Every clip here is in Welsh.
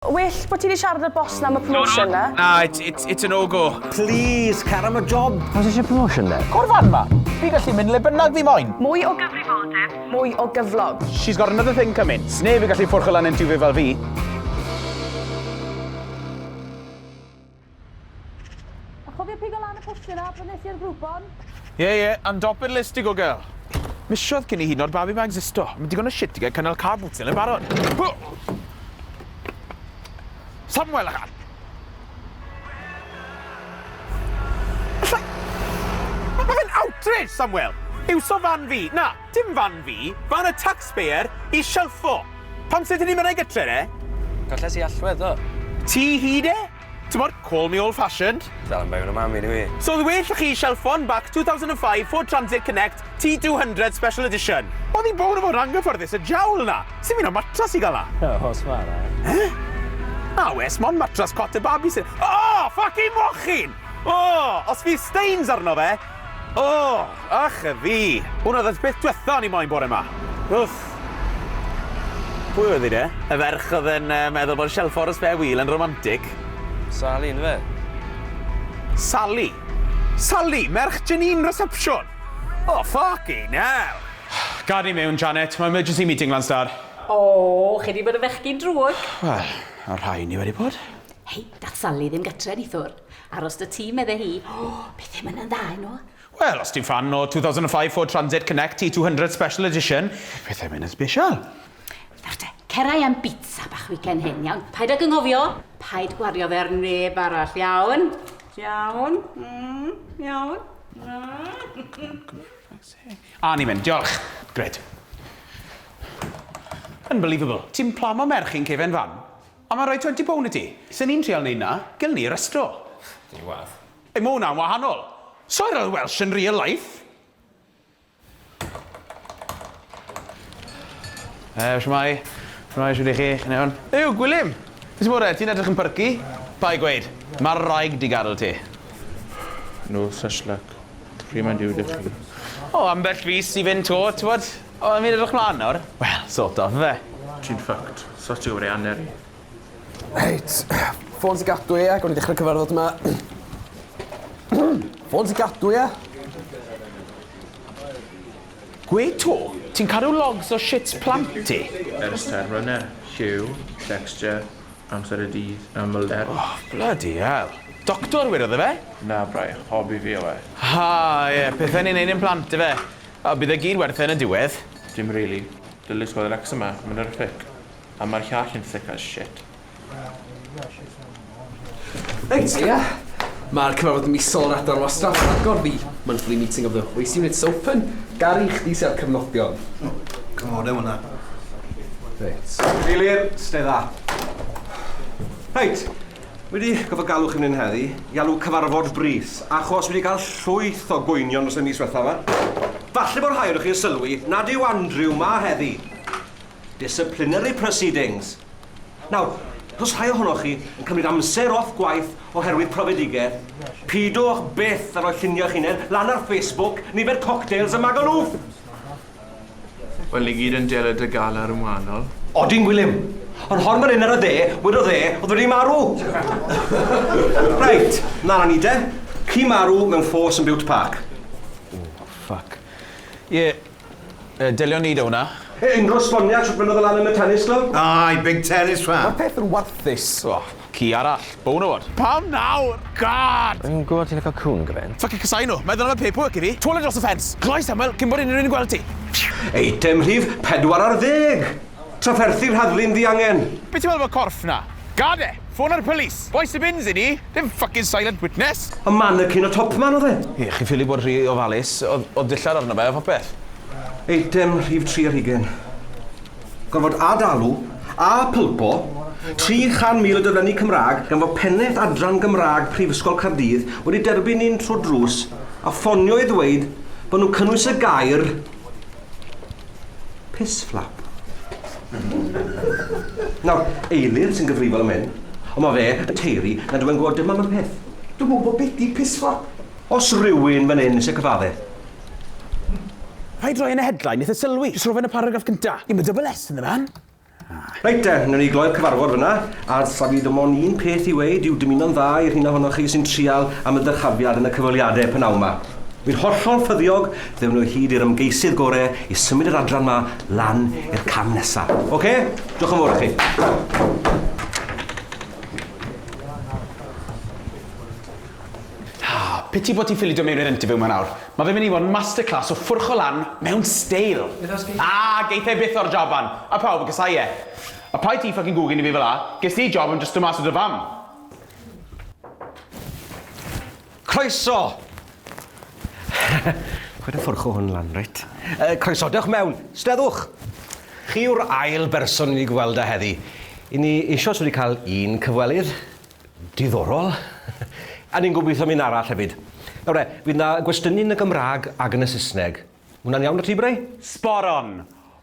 Well bo' ti 'di siarad â'r boss 'na am y promotion 'na. Na, it's it's it's a no go. Please, cer am y job! Pwy sy isie promotion then? O'r fan 'ma! Fi gallu mynd le bynnag fi moyn! Mwy o gyfrifoldeb, mwy o gyflog. She's got another thing coming. Sneb yn gallu ffwrchio lan entuvie fel fi. A chofio pigo lan y postyn na pan nes i'r grwpon? Ie, yeah, ie, yeah, and dop it listig o girl. Misiodd cyn i hyn o'r babi ma existo. Mae digon o shit i gael cynnal car boots yn barod. Samuel, a char! Mae fe'n outrage, Samuel! Iwso fan fi, na! Dim fan fi, fan y taxpayer i shelffo! Pam sut 'yn ni'n mynd a'i gytre e? Golles i allwedd ddo. Ti hyd e? T'mod, call me old fashioned. Dal yn bangio 'n y mam i dw i. So oedd well 'da chi shelffo yn bac 2005 Ford Transit Connect T200 Special Edition. Oedd hi'n bownd o fod yn anghyffyrddus y jawl 'na! Sdim un o matras i gael 'na! O, os ma' 'na un. Eh? Na oes, mond matras cot a babi sydd... O! Ffycin mochyn! O! Os fydd stains arno fe, O! Ych a fi! Hwn oedd y peth diwetha o'n i moyn bore 'ma. Wff! Pwy oedd hi de? Y ferch oedd yn yy meddwl bod shelf ffordd y spare wheel yn romantic. Sali yndyfe? Sali? Sali? Merch Janine reception? O ffycin hell! Gad ni mewn, Janet. Mae emergency meeting lan star. O! Chi 'di bod yn fechgyn drwg! Wel, y rhai ni wedi bod. Hei, dath Sali ddim gytre nithwr. Aros 'da ti, medde hi. O, pethe ma' 'na'n dda i nhw. Wel, os ti'n ffan o 2005 Ford Transit Connect T200 Special Edition, pethe ma' 'na'n sbesial. Nawr te, cerai am bizza bach weekend hyn, iawn? Paid ag anghofio, paid gwario fe ar neb arall, iawn? Iawn? Mm, iawn? A ni'n mynd, diolch. Gred. Unbelievable. Ti'n plamo merch i'n cefen fan? Ond mae'n rhoi twenty pound i ti. Sa ni'n trial neud na, gel ni restro. Dw i'n wath. Ei ma hwnna'n wahanol. Soi'r old welsh yn real life. Eh, shwmai. Shwmai, shwt i chi? Chi'n iawn? Ew, Gwilym! Be sy'n bore? Ti'n edrych yn perky. Bai gweud. Mae'r wraig di gadel ti. No such luck. Pryd mae'n due da chi? O, ambell fis i fynd to, t'wod? O, fi'n edrych mlan nawr. Wel, sort of, ife? Ti'n fucked. Sut yw'r Eaneri? Reit. Ffôn ti gadw ia? Gawn ni ddechra cyfarfod ma. Ffôn ti gadw ia? Gwe to, ti'n cadw logs o shit plant ti? Ers terfynau, lliw, texture, amser y dydd, ymylder. Oh, bloody hell. Doctor wir oedd e fe? Na braich, hobi fi yw e. Ha, ie, pethau ni'n neud i'n plant ife? O, bydd e gyd werth e yn y diwedd. Dim rili. Dylid gweld Wrecsam a Menter y Ffyc a mae'r llall yn thick as shit. Reit, ia. Mae'r cyfarfod misol yr adran wastraff yn agor, the monthly meeting of the waste unit's open. Gary, chdi sy a'r cyfnodion. O, cynghoria hwnna. Reit. Cadeirydd, sta dda. Reit. Wedi gorfod galw chi fan hyn heddi i alw cyfarfod brys, achos wedi cael llwyth o gwynion dros y mis ddiwetha' 'ma. Falle bo' rhai onoch chi yn sylwi nad yw Andrew 'ma heddi. Disciplinary proceedings. Nawr, os o's rhai ohonoch chi yn cymryd amser off gwaith oherwydd profedigaeth, pidwch byth â rhoi lluniau'ch hunain lan ar Facebook, nifer cocktails a magalŵf! Wel ni gyd yn delo dy galar yn wahanol. Odin Gwilym. Ond hon fan hyn ar y dde, wedodd e oedd wedi marw! Reit, mlan â ni de. Ci marw mewn ffos yn Bute Park. O, ffyc. Ie, yy, delion ni da hwnna. Yy, unrhyw esboniad shwt fynnodd e lan yn y tennis club? Aye, big tennis fan. Ma'r peth yn warthus. O! Ci arall. Bonawr. Pam nawr? God! Fi'm yn gwybod ti'n lico cŵn gymaint. Ffycin casau nhw. Meddwl am y paperwork i fi. Twal e dros y ffens. Cloi Samuel cyn bod unrhyw un yn gweld ti. Eitem rhif pedwar ar ddeg! Trafferthi'r rhagflaen ddiangen. Be ti'n meddwl am y corff 'na? Gad e! Ffona'r police! Bois y bins i ni! Dim ffycin silent witness! A mannequin o Topman oedd e? Ie, chi'n ffili bod rhy ofalus. Oedd oedd dillad arno fe a phopeth. Eitem rhif tri ar hugain. Gorfod ad-dalu, a pulpo, 300,000 o daflenni Cymraeg gan fod Pennaeth Adran Gymraeg Prifysgol Caerdydd wedi derbyn un trwy'r drws a ffonio i ddweud bod nhw'n cynnwys y gair 'piss flap'. Nawr, Eilir sy'n gyfrifol am hyn, ond mae fe yn taeru nad yw e'n gwybod dim am y peth. Dwi'm yn gwybod beth 'di 'piss flap'. Os rywun fan hyn isie cyfadde'. Rhaid roi yn y headline, nith e sylwi. Jyst rho fe yn y paragraff cynta. Ie, ma double S ynddo fe an. Reit de, newn ni gloi'r cyfarfod fyna. Arth, saf i dim ond un peth i weud yw dymuno'n dda i'r rheina ohonoch chi sy'n trial am y dyrchafiad yn y cyfweliade pynawn ma. Wi'n hollol ffyddiog ddewn nhw hyd i'r ymgeisydd gore i symud yr adran ma lan i'r cam nesa. Ocê? Diolch yn fawr i chi. Haa, piti bo ti'n ffili dod mewn i'r interview ma nawr. Ma fe'n mynd i fod yn masterclass o ffwrcho lan mewn steil. Aa, geith e byth o'r jaban. A pawb yn casau e. A paid ti ffycin gwgyn i fi fela, ges ti job am jyst dod mas o dy fam. Croeso! Paid a ffwrcho hwn lan, reit? Yy, croeso, dewch mewn. Steddwch! Chi yw'r ail berson i ni gweld â heddi. I ni eisioes wedi cael un cyfwelydd. Diddorol. A ni'n gobeithio am un arall hefyd. Nawr de, fydd 'na gwestiynu yn y Gymraeg ac yn y Saesneg. Hwnna'n iawn 'da ti, Bray? Spot on!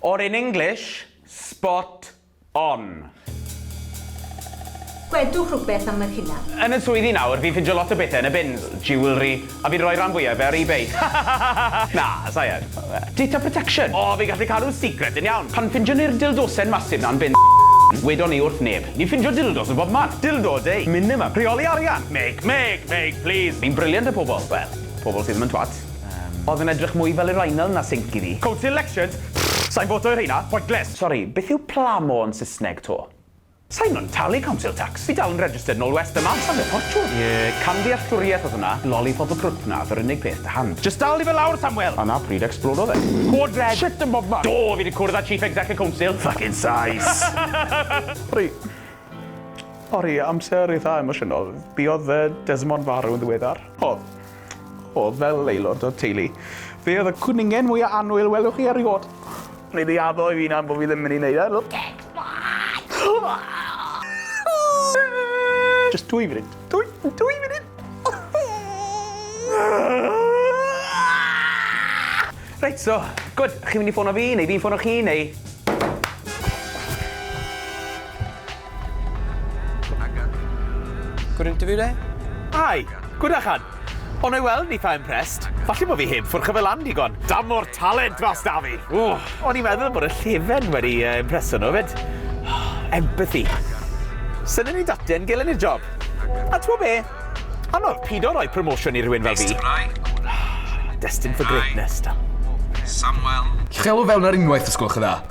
Or in English, spot on. Gwedwch rhywbeth am yr hunan. Yn y swyddi nawr, fi'n ffindio lot o bethe yn y bins. Jewellery, A fi'n rhoi ran fwya o fe ar ebay. Hahahahaha! Na, sai yn. Data protection! O, fi'n gallu cadw'n secret yn iawn! Pan ffindiwn ni'r dildosen massive 'na'n bin wedwn ni wrth neb. Ni'n ffindio dildos yn bob man. Dildo day! Minimum! Rheoli arian! Make! Make! Make! Please! Ni'n brilliant y pobl! Wel, pobl sydd ddim yn twat. Yym. Oedd yn edrych mwy fel urinal na sinc i fi. Council elections? Pfft! Sai'n voto i rheina. Pointless! Sori, beth yw plamo yn Saesneg 'to? Sain yn talu council tax, fi dal yn registered nol west a mas am fy ffortiwn. Ie, camddealltwriaeth oedd hwnna. Lollipop y crwt 'na oedd yr unig peth 'da hand. Jyst dal di fe lawr, Samwel! A 'na pryd ecsblododd e. Cod red! Shit yn bobman! Do, fi 'di cwrdd â chief exec y council. Ffycin sais! Sori. Sori, amser eitha emosiynol. Buodd yy Desmond farw yn ddiweddar. O. O, fel aelod o'r teulu, fe oedd y cwningen mwya annwyl y welwch chi erioed. Neu di addo i fi na bod fi ddim mynd i wneud e. Look at Just dwy funud. Dwy, dwy funud. Reit, so, gwyd, chi'n mynd i ffono fi, neu fi'n ffono chi, neu... Good interview there? Aye, good achan. O na'i weld, eitha impressed. Falle bod fi heb ffwrcho fe lan digon. Dam o'r talent mas da fi. Ww, o'n i'n meddwl bod y llefen wedi uh, impreso nhw fyd. Empathy. Syniad ni dati yn gelen i'r job. A ti'n be? Anodd pido roi promotion i rhywun fel fi. Destined for greatness, da. Samuel. Chelo fewn ar unwaith, os gwelwch yn dda.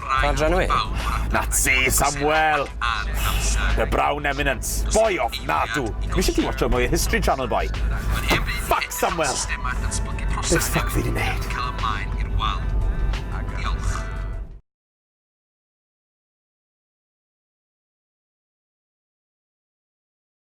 Pa adran yw hi? Na ti, Samuel! The Brown Eminence. Boi ofnadw! Dwi eisiau ti watsio mwy o History Channel, boi. Fuck, Samuel! Be fuck fi di neud?